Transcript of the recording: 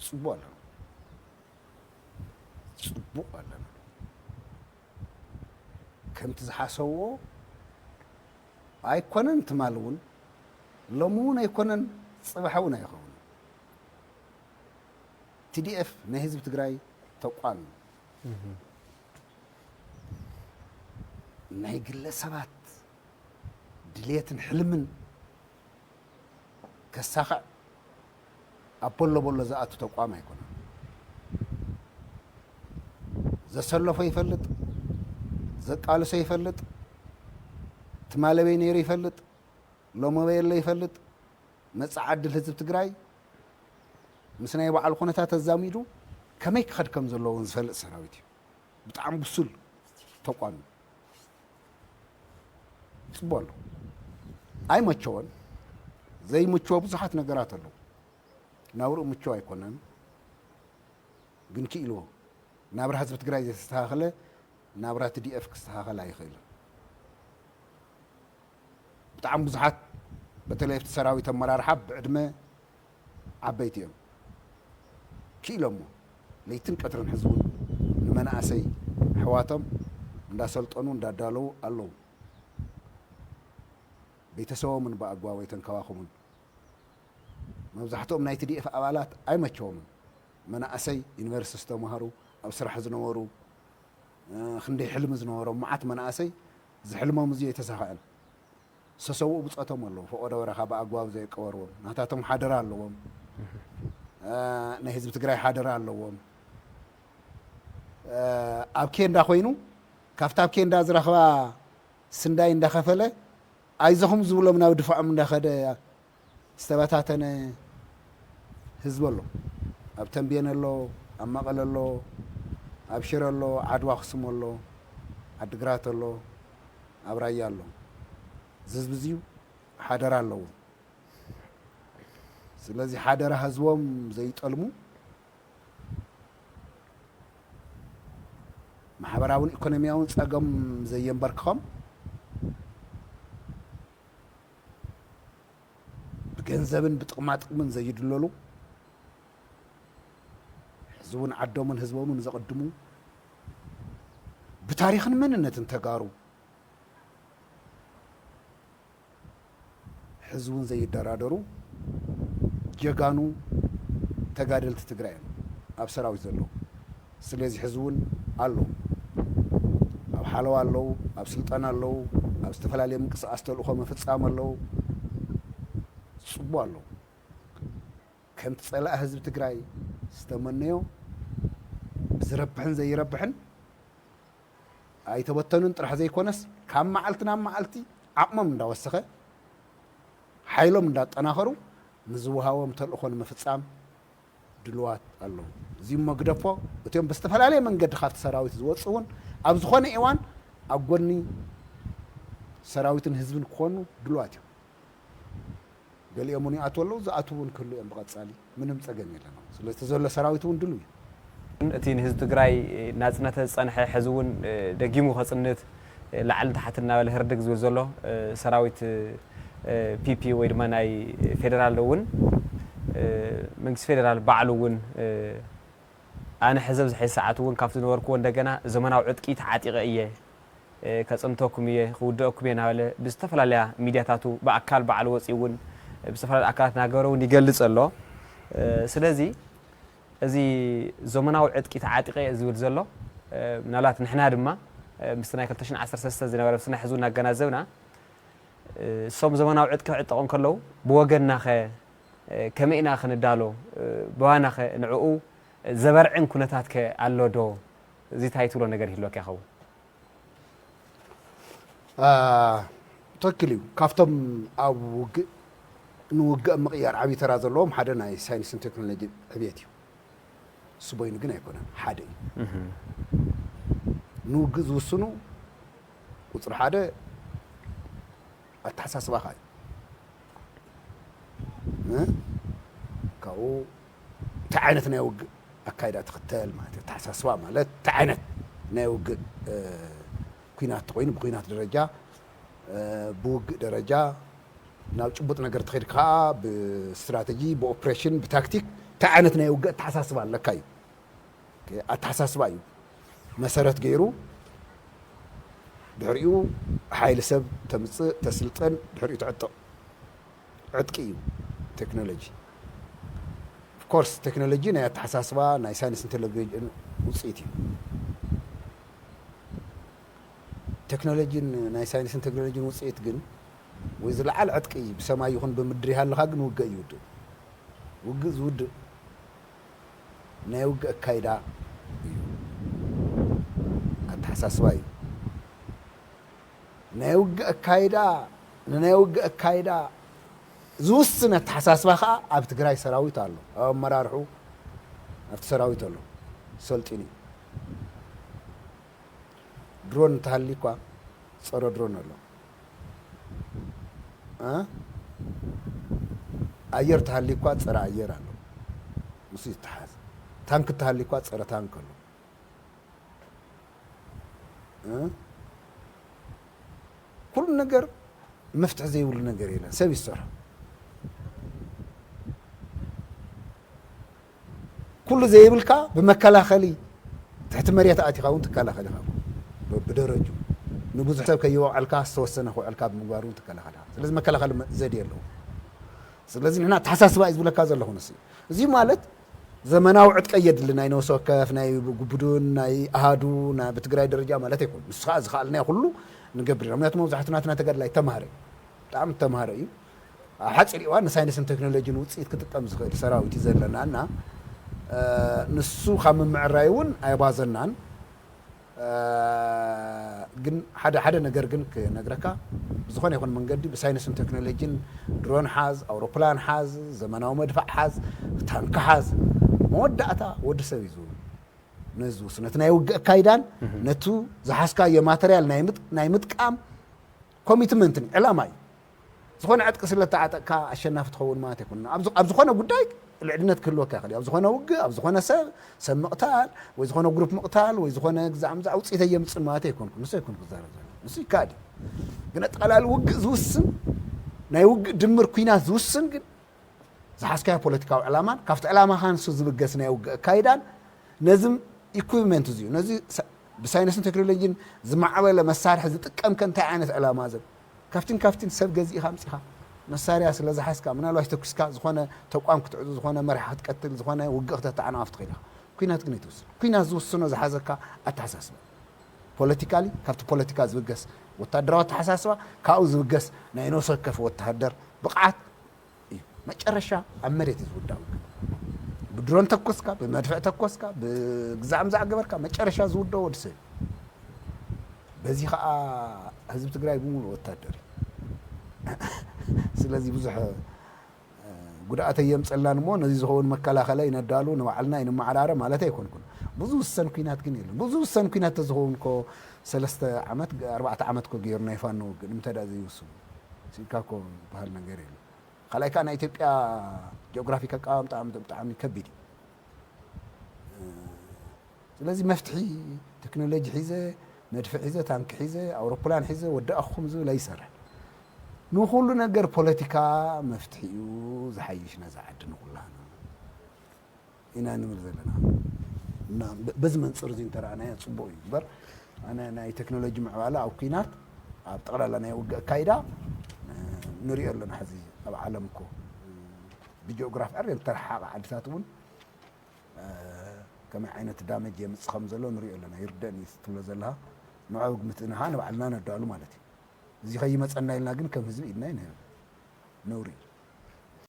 ጽቡቅ ኣለና ጽቡቅ ኣለና ከምቲ ዝሓሰብዎ ኣይኮነን ትማል እውን ሎሚ እውን ኣይኮነን ፅባሕ እውን ኣይኸውን ቲዲኤፍ ናይ ህዝቢ ትግራይ ተቋም እዩ ናይ ግለ ሰባት ድሌትን ሕልምን ከሳኽዕ ኣብ ቦሎ ቦሎ ዝኣቱ ተቋም ኣይኮነን። ዘሰለፎ ይፈልጥ፣ ዘቃልሶ ይፈልጥ፣ ትማለበይ ነይሩ ይፈልጥ፣ ሎመበይ ኣሎ ይፈልጥ፣ መጻኢ ዕድል ህዝቢ ትግራይ ምስ ናይ ባዕሉ ኩነታት ኣዛሚዱ ከመይ ክኸድ ከም ዘለዎ እውን ዝፈልጥ ሰራዊት እዩ። ብጣዕሚ ብሱል ተቋም እዩ። ይፅቦ ኣሎ ኣይመቸወን ዘይምችዎ ብዙሓት ነገራት ኣለዉ ናብርኡ ምችው ኣይኮነን ግን ክኢልዎ ናብራ ህዝቢ ትግራይ ዘይተስተኻኸለ ናብራ ትዲኤፍ ክስተኻኸል ኣይኽእልን ብጣዕሚ ብዙሓት በተለይ ኣብቲ ሰራዊት ኣመራርሓ ብዕድመ ዓበይቲ እዮም ኪኢሎሞ ለይትን ቀትርን ሕዚ እውን ንመናእሰይ ኣሕዋቶም እንዳሰልጠኑ እንዳዳለዉ ኣለዉ ቤተሰቦምን ብኣግባቡ ኣይተንከባኸቡን መብዛሕትኦም ናይ ትዲኤፍ ኣባላት ኣይመቸዎምን መናእሰይ ዩኒቨርሲቲ ዝተማሃሩ ኣብ ስራሕ ዝነበሩ ክንደይ ሕልሚ ዝነበሮም መዓት መናእሰይ ዝሕልሞም እዚ ኣይተሳኸዐን። ዝተሰውኡ ብጾቶም ኣለዉ። ፈቖዶ በረኻ ብኣግባቡ ዘየቀበርዎም። ናታቶም ሓደራ ኣለዎም። ናይ ህዝቢ ትግራይ ሓደራ ኣለዎም። ኣብ ኬንዳ ኮይኑ ካብቲ ኣብ ኬንዳ ዝረኽባ ስንዳይ እንዳኸፈለ ኣይዞኹም ዝብሎም ናብ ድፋዖም እንዳኸደ ዝተበታተነ ህዝቢ ኣሎ ኣብ ተምቤን ኣሎ ኣብ መቐለ ኣሎ ኣብ ሽረ ኣሎ ዓድዋ ኣኽሱም ኣሎ ዓዲግራት ኣሎ ኣብ ራያ ኣሎ እዚ ህዝቢ እዚዩ ሓደራ ኣለዎ ስለዚ ሓደራ ህዝቦም ዘይጠልሙ ማሕበራውን ኢኮኖሚያውን ፀገም ዘየንበርክኾም ብገንዘብን ብጥቕማጥቕምን ዘይድለሉ ሕዚውን ዓዶምን ህዝቦምን ዘቕድሙ ብታሪኽን መንነትን ተጋሩ ሕዚውን ዘይደራደሩ ጀጋኑ ተጋደልቲ ትግራይ እዮም ኣብ ሰራዊት ዘለዉ። ስለዚ ሕዚ እውን ኣለዉ። ኣብ ሓለዋ ኣለዉ፣ ኣብ ስልጠና ኣለዉ፣ ኣብ ዝተፈላለየ ምንቅስቓስ ተልእኾ ምፍፃም ኣለዉ። ፅቡቕ ኣለዉ። ከምቲ ፀላኢ ህዝቢ ትግራይ ዝተመነዮ ብዝረብሕን ዘይረብሕን ኣይተበተኑን ጥራሕ ዘይኮነስ ካብ መዓልቲ ናብ መዓልቲ ዓቕሞም እንዳወሰኸ ሓይሎም እንዳጠናኸሩ ንዝወሃቦም ተልእኾ ንምፍፃም ድሉዋት ኣለዉ። እዚም መግደፎ እቲም ብዝተፈላለየ መንገዲ ካብቲ ሰራዊት ዝወጽኡ እውን ኣብ ዝኾነ ኤዋን ኣብ ጎኒ ሰራዊትን ህዝብን ክኾኑ ድሉዋት እዮም። ገሊኦም እውን ይኣትዉ ኣለዉ፣ ዝኣትዉ እውን ክህሉ እዮም ብቐጻሊ፣ ምንም ጸገም የለን ኣብኡ። ስለዚ እቲ ዘሎ ሰራዊት እውን ድሉው እዩ። እቲ ንህዝቢ ትግራይ ናጽነተ ዝጸንሐ ሕዚ እውን ደጊሙ ከጽንት፣ ላዕልን ታሕትን እናበለ ህርድግ ዝብል ዘሎ ሰራዊት ፒፒ ወይ ድማ ናይ ፌደራል እውን መንግስቲ ፌደራል ባዕሉ እውን ኣነ ሕዚ ኣብዚ ሕዚ ሰዓት እውን ካብቲ ዝነበርክዎ እንደገና ዘመናዊ ዕጥቂ ተዓጢቐ እየ ከፅንተኩም እየ ክውደአኩም እየ እናበለ ብዝተፈላለያ ሚድያታቱ ብኣካል ባዕሉ ወፂኡ እውን ብዝተፈላለዩ ኣካላት እናገበረ እውን ይገልፅ ኣሎ ስለዚ እዚ ዞመናዊ ዕጥቂ ተዓጢቐ እየ ዝብል ዘሎ ምናልባት ንሕና ድማ ምስቲ ናይ ክልተ ሽሕን ዓሰርተ ሰለስተን ዝነበረ ስነ ሕዝቡ እናገናዘብና እሶም ዘመናዊ ዕጥቂ ክዕጠቑ እንከለዉ ብወገንናኸ ከመይ ኢና ክንዳሎ ብዋናኸ ንዕኡ ዘበርዕን ኩነታትከ ኣሎዶ እዚ ታይ ትብሎ ነገር ይህልወካ ይኸውን? ትክክል እዩ ካብቶም ኣብ ውግእ ንውግእ ምቕያር ዓብዪ ተራ ዘለዎም ሓደ ናይ ሳይንስን ቴክኖሎጂ ዕብየት እዩ እሱ በይኑ ግን ኣይኮነን ሓደ እዩ ንውግእ ዝውስኑ ቁፅሪ ሓደ ኣተሓሳስባኻ እዩ ካብኡ እንታይ ዓይነት ናይ ውግእ ኣካይዳ ትኽተል ማለት እዩ። ኣተሓሳስባ ማለት እንታይ ዓይነት ናይ ውግእ ኩናት ተኾይኑ ብኩናት ደረጃ ብውግእ ደረጃ ናብ ጭቡጥ ነገር ተኸይድ ከዓ ብስትራተጂ ብኦፕሬሽን ብታክቲክ እንታይ ዓይነት ናይ ውግእ ኣተሓሳስባ ኣለካ እዩ። ኣተሓሳስባ እዩ መሰረት ገይሩ ድሕሪኡ ሓይሊ ሰብ ተምፅእ ተስልጠን ድሕሪኡ ተዕጥቕ ዕጥቂ እዩ ቴክኖሎጂ። ኦፍ ኮርስ ቴክኖሎጂ ናይ ኣተሓሳስባ ናይ ሳይንስን ቴክኖሎጅን ውፅኢት እዩ። ቴክኖሎጂን ናይ ሳይንስን ቴክኖሎጅን ውፅኢት ግን ወይ ዝለዓል ዕጥቂ ብሰማይ ይኹን ብምድሪ ይሃልኻ ግን ውግእ እዩ ውድእ። ውግእ ዝውድእ ናይ ውግእ ኣካይዳ እዩ። ኣተሓሳስባ እዩ። ናይ ውግእ ኣካይዳ ንናይ ውግእ ኣካይዳ ዝውስን ኣተሓሳስባ ከኣ ኣብ ትግራይ ሰራዊት ኣሎ ኣብ ኣመራርሕኡ ኣብቲ ሰራዊት ኣሎ ሰልጢኑ እዩ ድሮን እንተሃልዩ እኳ ፀረ ድሮን ኣሎ ኣየር ተሃልዩ እኳ ፀረ ኣየር ኣሎ ምስ ይተሓዝ ታንክ ተሃልዩ እኳ ፀረ ታንክ ኣሎ ኩሉ ነገር መፍትሒ ዘይብሉ ነገር የለን ሰብ እዩ ዝሰርሖ ኩሉ ዘይብልካ ብመከላኸሊ ትሕቲ መሬት ኣእቲኻ እውን ትከላኸል ኢኻ ብደረጁ ንብዙሕ ሰብ ከይወዕልካ ዝተወሰነ ክውዕልካ ብምግባር እውን ትከላኸል ኢኻ ስለዚ መከላኸሊ ዘድየ ኣለዎ ስለዚ ንሕና ኣተሓሳስባ እዩ ዝብለካ ዘለኹ ንስ እዩ እዚ ማለት ዘመናዊ ዕጥቀ የድሊ ናይ ነብሲ ወከፍ ናይ ቡዱን ናይ ኣሃዱ ናይ ብትግራይ ደረጃ ማለተይ ኮይኑ ንሱ ከኣ ዝከኣልናዮ ኩሉ ንገብር ኢና ምክንያቱ መብዛሕቱ ናትና ተጋድላይ ተማሃረ እዩ ብጣዕሚ ተማሃረ እዩ ኣብ ሓጺር እዋን ንሳይንስን ቴክኖሎጂን ውጽኢት ክጥቀም ዝክእል ሰራዊት እዩ ዘለና እና ንሱ ካብ ምምዕራይ እውን ኣይባዘናን ግን ሓደ ሓደ ነገር ግን ክነግረካ ብዝኾነ ይኹን መንገዲ ብሳይንስን ቴክኖሎጂን ድሮን ሓዝ ኣውሮፕላን ሓዝ ዘመናዊ መድፋዕ ሓዝ ታንኪ ሓዝ መወዳእታ ወዲ ሰብ እዩ ነዚ ዝውስኑ ነቲ ናይ ውግእ ኣካይዳን ነቱ ዝሓዝካዮ ማተርያል ናይ ምጥቃም ኮሚትመንትን ዕላማ እዩ ዝኾነ ዕጥቂ ስለ እተዓጠቅካ ኣሸናፊ ትኸውን ማለት ኣይኮነን። ኣብ ኣብ ዝኾነ ጉዳይ ልዕልነት ክህልወካ ይኽእል እዩ። ኣብ ዝኾነ ውግእ፣ ኣብ ዝኾነ ሰብ ሰብ ምቕታል ወይ ዝኾነ ግሩፕ ምቕታል ወይ ዝኾነ ግዛዕ ምዛዕ ውጽኢት ኣየምጽእን ማለት ኣይኮንኩን። ንሱ ኣይኮንኩ ክዛረብ ዘለኹ። ንሱ ይከኣል እዩ። ግን ኣጠቓላሊ ውግእ ዝውስን ናይ ውግእ ድምር ኩናት ዝውስን ግን ዝሓዝካዮ ፖለቲካዊ ዕላማን ካብቲ ዕላማኻ ንሱ ዝብገስ ናይ ውግእ ኣካይዳን ነዚ ኢኩዊፕመንት እዚዩ ነዚ ብሳይንስን ቴክኖሎጂን ዝማዕበለ መሳርሒ ዝጥቀምከ እንታይ ዓይነት ዕላማ ዘብ ካብትን ካብትን ሰብ ገዚእኻ ኣምጺኻ መሳርያ ስለ ዝሓዝካ ምናልባሽ ተኩስካ ዝኾነ ተቋም ክትዕጹ ዝኾነ መራሒ ክትቀትል ዝኾነ ውግእ ክተተዓናቕፍ ትኽእል ኢኻ ኩናት ግን ኣይትውስን ኩናት ዝውስኖ ዝሓዘካ ኣተሓሳስባ እዩ ፖለቲካሊ ካብቲ ፖለቲካ ዝብገስ ወታደራዊ ኣተሓሳስባ ካብኡ ዝብገስ ናይ ነብሲ ወከፍ ወተሃደር ብቕዓት እዩ መጨረሻ ኣብ መሬት እዩ ዝውዳእ ውግእ ብድሮን ተኮስካ ብመድፍዕ ተኮስካ ብግዛዕ ምዛዕ ገበርካ መጨረሻ ዝውደኦ ወዲ ሰብ በዚ ከዓ ህዝቢ ትግራይ ብምሉ ወታደር እዩ ስለዚ ብዙሕ ጉድኣት የምፀላን እሞ ነዚ ዝኸውን መከላኸለ ይነዳሉ ንባዕልና ይንመዓራረ ማለት ኣይኮንኩን ብዙ ውሰን ኩናት ግን የለን ብዙ ውሰን ኩናት ተዝኸውን ኮ ሰለስተ ዓመት ኣርባዕተ ዓመት ኮ ገይሩ ናይ ፋኖ ውግእ ንምንታይ ዳ ዘይውስኑ ስኢንካ እኮ ዝብሃል ነገር የለን። ካልኣይ ከኣ ናይ ኢትዮጵያ ጂኦግራፊክ ኣቀማምጣ ብጣዕሚ ከቢድ እዩ። ስለዚ መፍትሒ ቴክኖሎጂ ሒዘ መድፊ ሒዘ ታንኪ ሒዘ ኣውሮፕላን ሒዘ ወዳእኹም ዝብል ኣይሰርሕን። ንኹሉ ነገር ፖለቲካ መፍትሒኡ ዝሓይሽ ነዛ ዓዲ ንኹላህና ኢና ንብል ዘለና እና በዚ መንፅር እዚ እንተረኣናዮ ፅቡቅ እዩ እምበር ኣነ ናይ ቴክኖሎጂ ምዕባለ ኣብ ኩናት ኣብ ጠቅላላ ናይ ውግእ ኣካይዳ ንሪኦ ኣለና ሕዚ ኣብ ዓለም እኮ ብጂኦግራፍ ዕር ዝተረሓሓቀ ዓድታት እውን ከመይ ዓይነት ዳመጅ የምፅ ከም ዘሎ ንሪኦ ኣለና ይርደእኒ ትብሎ ዘለካ ንዕኡ ግምትና ከዓ ንባዕልና ነዳሉ ማለት እዩ እዚ ከይመፀና ኢልና ግን ከም ህዝቢ ኢድና ይንህብ ነውሪ እዩ